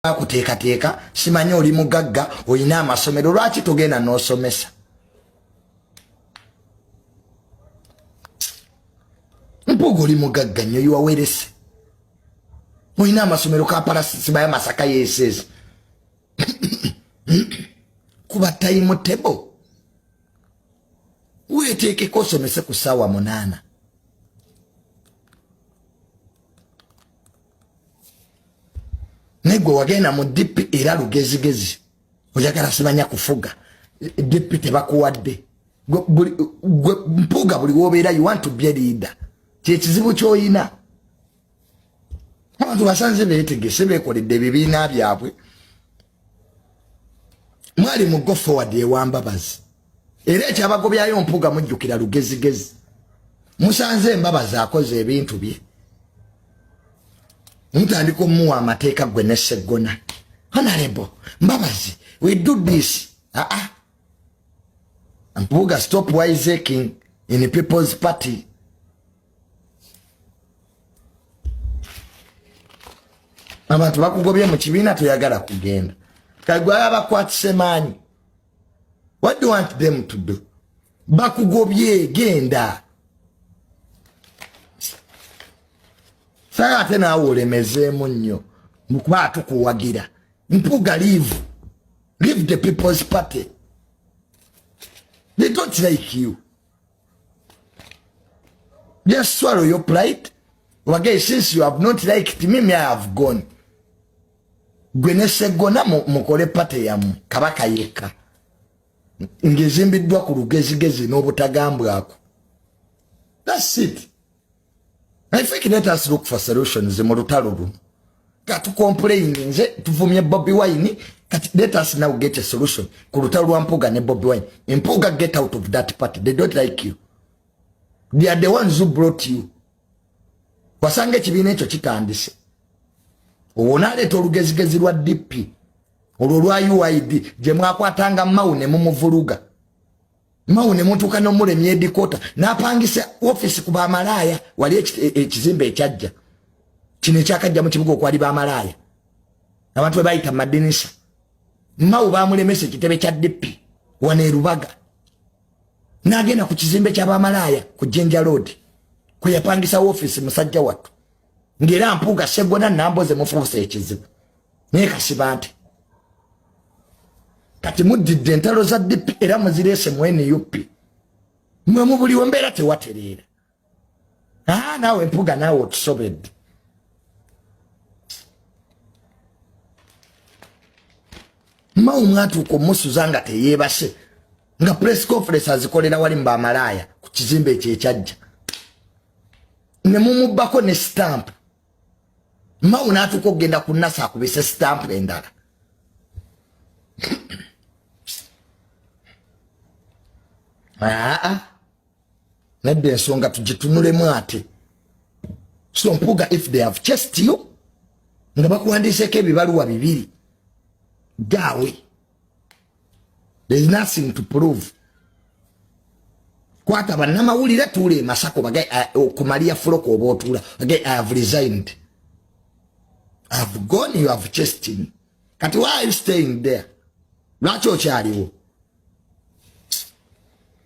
bakuteekateeka simanyi oli mugagga olina amasomero lwaki togenda n'osomesa mpuuga oli mugagga nnyo yiwawerese olina amasomero kapalasisibayo masaka yeses kuba tayimu tebo weeteekeko osomese ku ssaawa munaana naye gwe wagenda mu dp era lugezigezi oyagala simanya kufuga dp tebakuwadde gwe mpuuga buli wobeera you want to be a leader kyekizibu kyoyina abantu basanze betegese bekoledde ebibiina byabwe mwali mu go forward ewambabazi era ekyabagobyayo mpuga mujjukira lugezigezi musanze embabazi akoze ebintu bye mutandika omuwa amateeka gwe ne seggona honorable mbabazi we do this aa ah, ah. mpuga stop wiseking in people's party abantu bakugobye mu kibiina toyagala kugenda kagwala bakwatise maanyi what do you want them to do bakugobye genda saga ate naawe olemezeemu nnyo mukuba atukuwagira mpuga live live the people's party they don't like you Just swallow your pride. Wage, since you have not liked me, me I have gone. Gwene segona mukole pate ya mu, kabaka yeka. Ngezimbi dwa kuru gezi gezi no butagambwa ako. That's it. I think let us look for solutions mu lutalo luno. Katu complain nze tuvumye Bobby Wine kati let us now get a solution ku lutalo lwa Mpuga ne Bobby Wine. Mpuga get out of that party. They don't like you. They are the ones who brought you. Wasange kibiina ekyo kitandise. Owo naleeta olugezigezi lwa DP. Olwo lwa UID gye mwakwatanga mawu ne mumuvuluga. mawo ne mutuuka n'omulemya edikoota n'apangisa ofiisi ku bamalaaya wali e, ekizimba ekyajja kino ekyakajja mu kibuga okwali bamalaaya abantu bebayita mu madinisa mawo bamulemesa ekitebe kya dipi wano erubaga n'agenda ku kizimbe kya bamalaaya ku jinja loodi kwe yapangisawo ofiisi musajja wattu ng'era mpuuga segona namboze mufuusa ekizibu naye kasiba nti kati muddidde entalo za dp era muzireese mu nup mwe mubuliwo mbeera tewatereera aa naawe mpuga naawe otusobedde mao mwatuuka omusuza nga teyeebase nga press conference azikolera wali mu bamalaaya ku kizimbe ekyo ekyajja ne mumubbako ne stampu mawu natuuka okugenda ku nasa akubise sitampu endala aa nedda ensonga tugitunulemu ate so mpuga if they have chest you nga bakuwandiiseko ebibaluwa bibiri gaawe there is nothing to prove kwata bannamawulire tuula emasako bage okumaliya eh, fuloka oba otuula bage i have resigned i have gone you have chased me kati why are you staying there lwaki okyaliwo